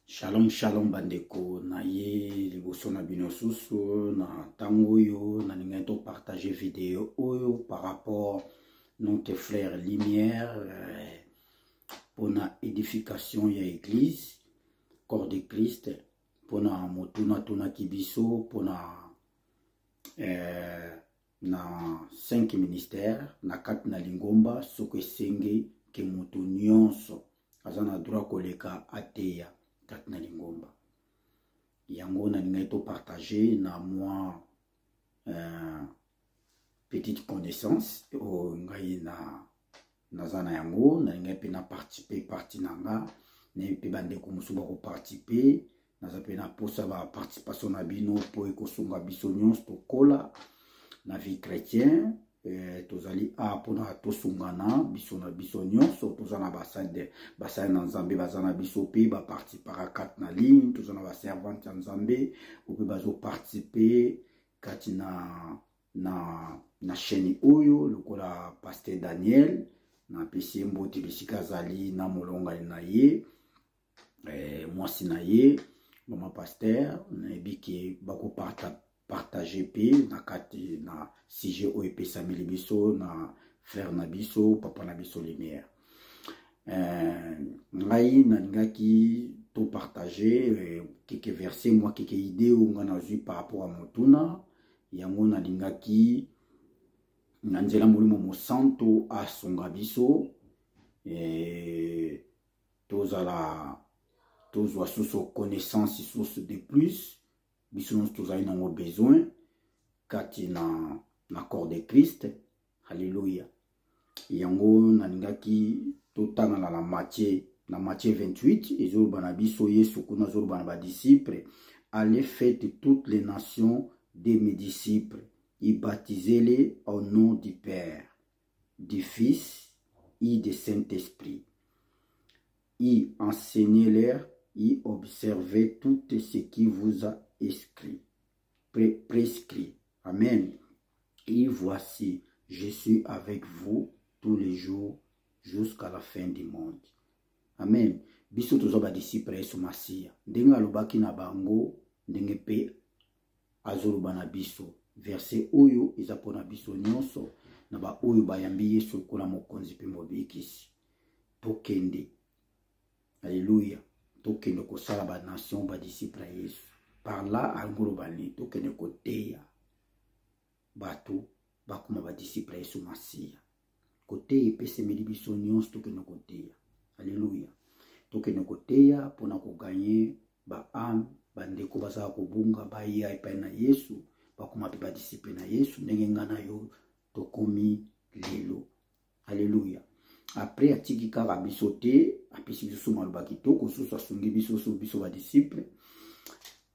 shalom shalom bandeko na ye liboso na bino susu na ntango oyo nalingaki topartage video oyo par rapport notre frère lumière euh, mpona édification ya église corps de christ mpona motunatunaki biso mpona eh, na 5 ministère na kati na lingomba soki esenge ke moto nyonso aza na droit koleka ateya kati na lingomba yango nalingaki topartage na mwa euh, petite connaissance oyo ngai na naza na yango nalingaki mpe na participe parti na nga nayebi mpe bandeko mosusu bakoparticipe naza mpe na mposa ba participation na bino mpo ekosunga biso nyonso tokola na vie chrétien eh, tozali a mpona tosungana biso na biso nyonso toza na basali na nzambe baza na biso mpe baparticipaka kati na ligne toza na baservante ya nzambe oyo mpe bazoparticipe kati na na na chaîne oyo lokola pasteur daniel napesi ye mbote bisika azali na molongani na ye eh, mwasi na ye mama paster nayebi ke bakopartage mpe na kati na sujet oyo epesameli biso na frère na biso papa na biso lumière eh, ngai nalingaki topartage eh, keke verse mwa keke idee oyo ngai nazwi par rapport ya motuna yango nalingaki na nzela molimo mosantu asunga biso eh, tozala tozwa susu connaissance susu de plus biso nyonso tozali nango besoin kati na na corps de christ halleluya yango nalingaki totangana na matie na matie 28 ezoloba na biso yesu kuna azoloba na badisciple allez fete toutes les nations de mes disciples ibatize-les au nom du père du Fils et du Saint-Esprit. Et enseignez-leur et observez tout ce qui vous a écrit, pré prescrit. Amen. Et voici, je suis avec vous tous les jours jusqu'à la fin du monde. Amen. biso toza badisipre ya yesu masiya ndenge alobaki na bango ndenge mpe azoloba na biso verse oyo eza mpo na biso nyonso na baoyo bayambi yesu lokola mokonzi mpe mobikisi tokende aleluya tokende kosala banation badisiple ya yesu par là angoloba nini tokende koteya bato bakoma badisiple ya yesu masiya koteya epesemeli biso nyonso tokende koteya aleluya tokende koteya mpo na koganye baame bandeko bazala kobunga baya epai na yesu bakoma mpe badisiple na yesu ndenge ngai na yo tokomi lelo aleluya apres atiki kaka biso te apesi biso maloba kitoko susu asungi biso so biso badisiple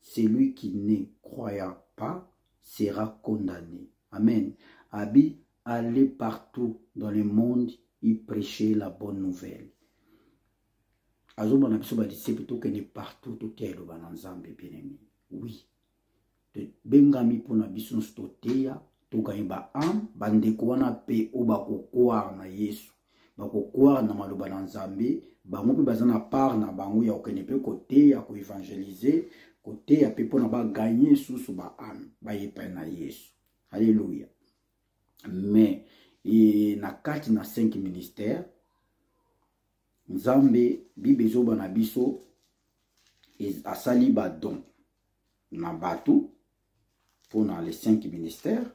celui qui ne croyant pas sera condamné. Amen. Abi, allez partout dans le monde et prêchez la bonne nouvelle. azomona biso badisiple tokende partout totia eloba na nzambe bien aimé oui tobengami mpona biso nyonso toteya tokani ba ame bandeko wana mpe oyo bakokware na yesu bakokware na maloba na nzambe bango mpe baza na part na bango ya kokende mpe koteya koevangelize koteya mpe mpona baganye susu ba ame bayepai na yesu halleluya mais e, na kati na cinq ministère nzambe bible ezoba na biso asali badon na bato mpo na les cinq ministères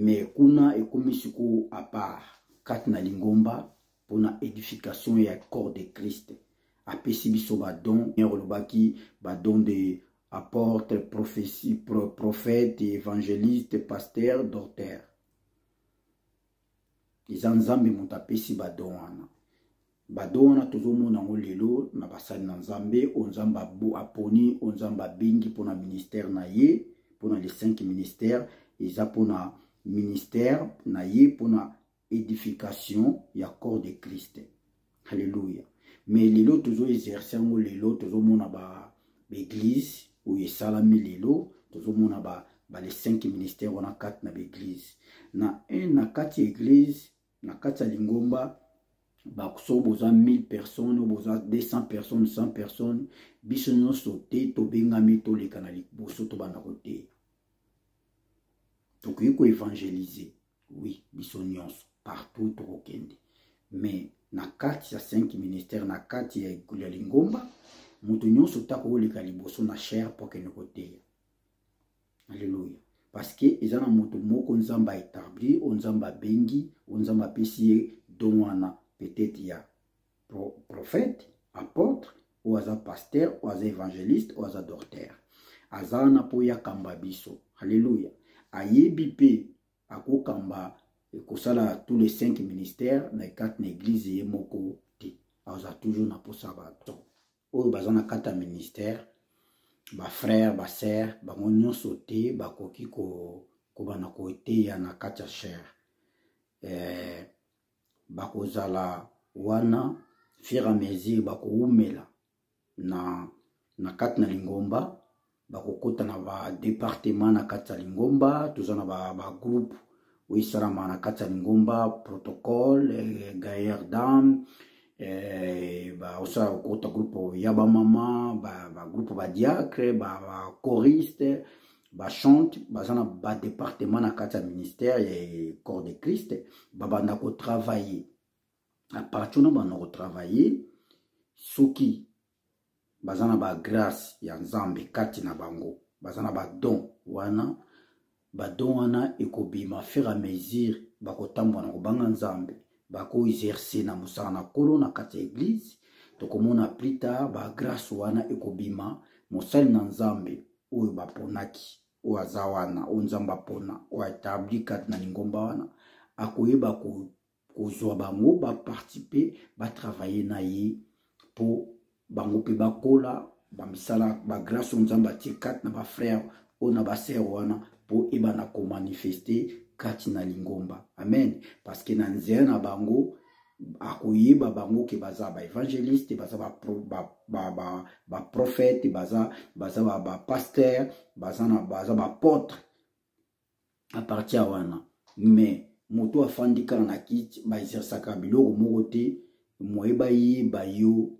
mais kuna ekomi sikoyo apart kati na lingomba mpo na édification ya corps de christ apesi biso badon olobaki badon de apporte prophétie prophète évangéliste pasteur docteur eza nzambe moto apesi badon wana badon wana tozomona yango lelo na basali na nzambe oyo nzambe aponi oyo nzambe abengi mpona ministère na ye mpona les cinq ministères eza mpona ministère na ye mpona édification ya corps de christ Alléluia. Mais lelo tozo exercer yango lelo tozo mona ba l'église oyo esalami lelo tozo mona ba ba les cinq ministères wana kati na l'église. Na un na kati ya église na kati ya lingomba baso boza 1000 personnes oyo boza 200 personnes 100 personnes biso nyonso te tobengami toleka na liboso tobanda koteya tokoki koevangelize oui biso nyonso partout tokokende mais na kati ya 5 ministère na kati ya ekulu ya lingomba moto nyonso ta kooleka liboso na chaire mpo akende koteya alleluya parceke eza na moto moko nzambe aetabli oyo nzambe abengi oyo nzambe apesi ye don wana petete ya pro, prophète apôtre oyo aza pasteur oyo aza évangéliste oyo aza docteur aza wana mpo ye akamba biso alleluya ayebi mpe akokamba kosala tous les cinq ministères na ekati na église ye moko te aza toujours na mposa bato oyo baza na kati ya ministère bafrère basere bango nyonso te bakoki kobanda koteya na kati ya chere eh, bakozala wana fur à mesure bakowumela na, na kati na lingomba bakokota na badepartema na kati ya lingomba toza na bagroupe ba oyo esalama na kati ya lingomba protocole eh, gailleur dame eh, baosala kokota groupe ya bamama bagroupe ba badiacre bachoriste ba bachante baza na badepartement na kati ya ministère ya corps de christ babanda kotravaille apartir wana banda kotravaille soki baza na bagrace ya nzambe kati na bango baza na badon wana badon wana ekobima fur à mesure bakotambola na kobanga nzambe bakoexerce na mosala na nkolo na kati ya eglize tokomona plus tard bagrace wana ekobima mosali na nzambe oyo baponaki oyo aza wana oyo nzambe apona oyo atabli kati na lingomba wana akoyeba kozwa bango bapartipe batravaille na ye mpo bango mpe bakola bamisala bagrace oyo nzambe atie kati na bafrere oyo na basere wana mpo ebana komanifeste kati na lingomba amen parceke na nzela na bango akoyeba bango ke baza ba evangeliste baza ba ba ba ba, ba prophète baza baza ba, ba pasteur baza na baza ba apôtre à partir wana mais moto afandi kaka na kiti ba exercaka biloko moko te moye bayeba yo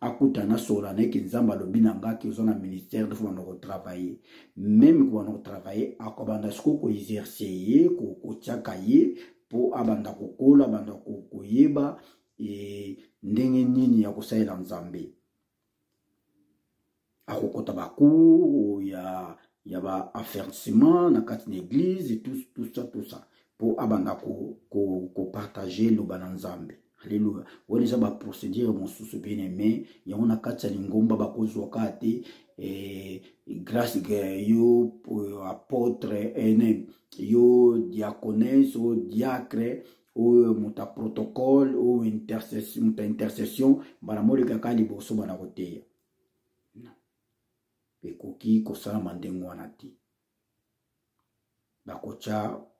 akuta na sola na eke nzambe alobi na nga ke oza na ministère de fona kotravaille meme kobanda kotravaille akobanda sikoyo koexerce ye kotiaka ye mpo abanda kokola abanda koyeba e, ndenge nini ya kosalela nzambe akokota ba cours ya ya ba affermissement na kati na église et tout tout ça tout ça po abanda ko ko ko partager loba na Nzambe Alléluia. Wana eza ba procédure mosusu bien aimé yango na kati ya lingomba bakozwa kaka te eh, grâce eh, yo eh, apôtre ene yo diaconese o diacre oyo moto ya protocole oyo intercession mbala molekaka liboso bana koteya ekoki kosalama ndenge wana te bakotya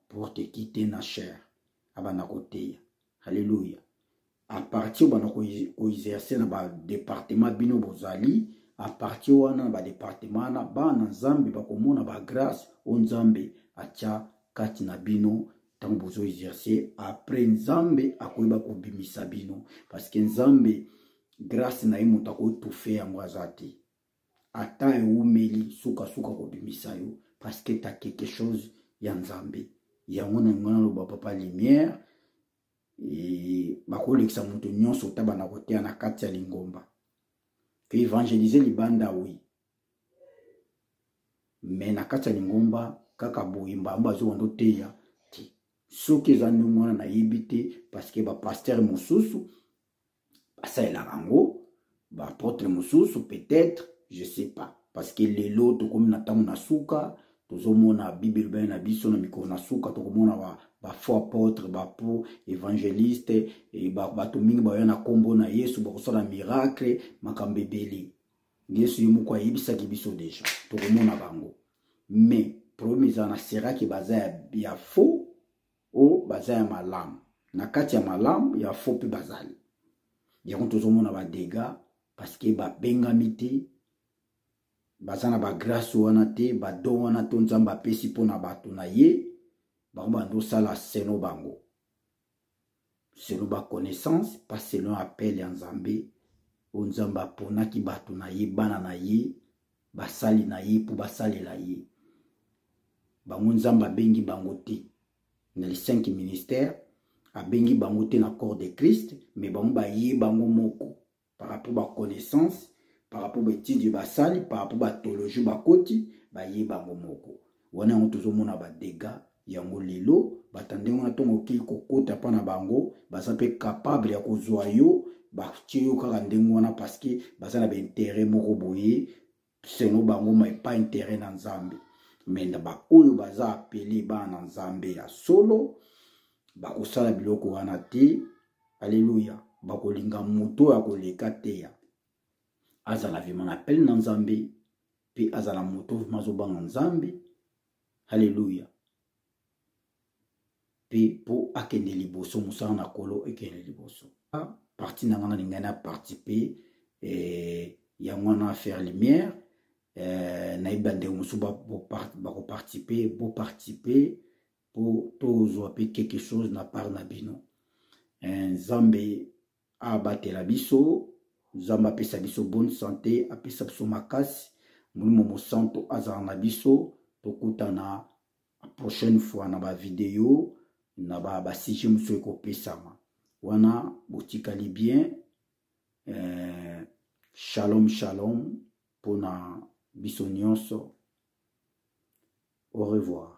porte kite na chaire abanda koteya halleluya apartir obanda koexerce na badepartement bino bozali apartir wana na badepartement wana bana nzambe bakomona bagrace oyo nzambe atya kati na bino ntango bozo exerce après nzambe akoyeba kobimisa bino parce que nzambe grâce na ye moto akotufe yango aza te ata ewumeli sukasuka kobimisa yo parce que ta quelque chose ya nzambe yango na yango naloba papa lumière bakolekisa moto nyonso tabana koteya na kati ya lingomba koevangelise libanda wi me na kati ya lingomba kaka boye mbala moko azonga ndoteya te soki eza ndenge wana nayebi te parceke bapastere mosusu basalelaka yango baapotre mosusu peut-être je sais pas parceke lelo tokomi na ntango na suka tozomona bible elobani na biso na mikolo na suka tokomona bafo apotre bapo évangéliste eh, bato mingi baoya na nkombo na yesu bakosala miracle makambo ebele yesu ye moko ayebisaki biso deja tokomona bango mais problème eza na seraki baza ya, ya faux o baza ya malamu na kati ya malamu ya faux mpe bazali yango tozomona badega parceke babengami te baza na bagrâce wana te badon wana to nzambe apesi mpo na bato na ye bango bandosala seno bango selon ba connaissance pas selon appel ya nzambe oyo nzambe aponaki bato na ye bana na ye basali na ye mpo basalela ye bango nzambe abengi bango te na le cinq ministère abengi bango te na corps de christ mais bango baye bango moko par rapport ba connaissance par rapport ba étude basali par rapport ba tologie bakoti baye bango moko wana yango tozomona ba dégâts yango lelo bato ya ndenge wana ntongo okei kokota mpa na bango baza mpe capable ya kozwa yo batie yo kaka ndenge wana parceke baza na baintere moko boye selon bango mai pas intérêt na nzambe me na baoyo baza apele bana na nzambe ya solo bakosala biloko wana te aleluya bakolinga moto oyo akoleka teya azala vrema na apele na nzambe mpe azala moto vrema azobanga nzambe aleluya mpe mpo akende liboso mosala na kolo ekende liboso parti na ngai nalingai na participe eh, yango wana affaire lumière eh, nayebi bandeko mosusu bakoparticipe boparticipe mpo tozwa mpe quelque chose na part na bino eh, nzambe abatela biso nzambe apesa biso bonne sante apesa biso makasi molimo mosanto azala na biso tokutana prochaine fois na bavideo na basije mosusu ekopesama wana botikali bien eh, shalom shalom mpona biso nyonso au revoir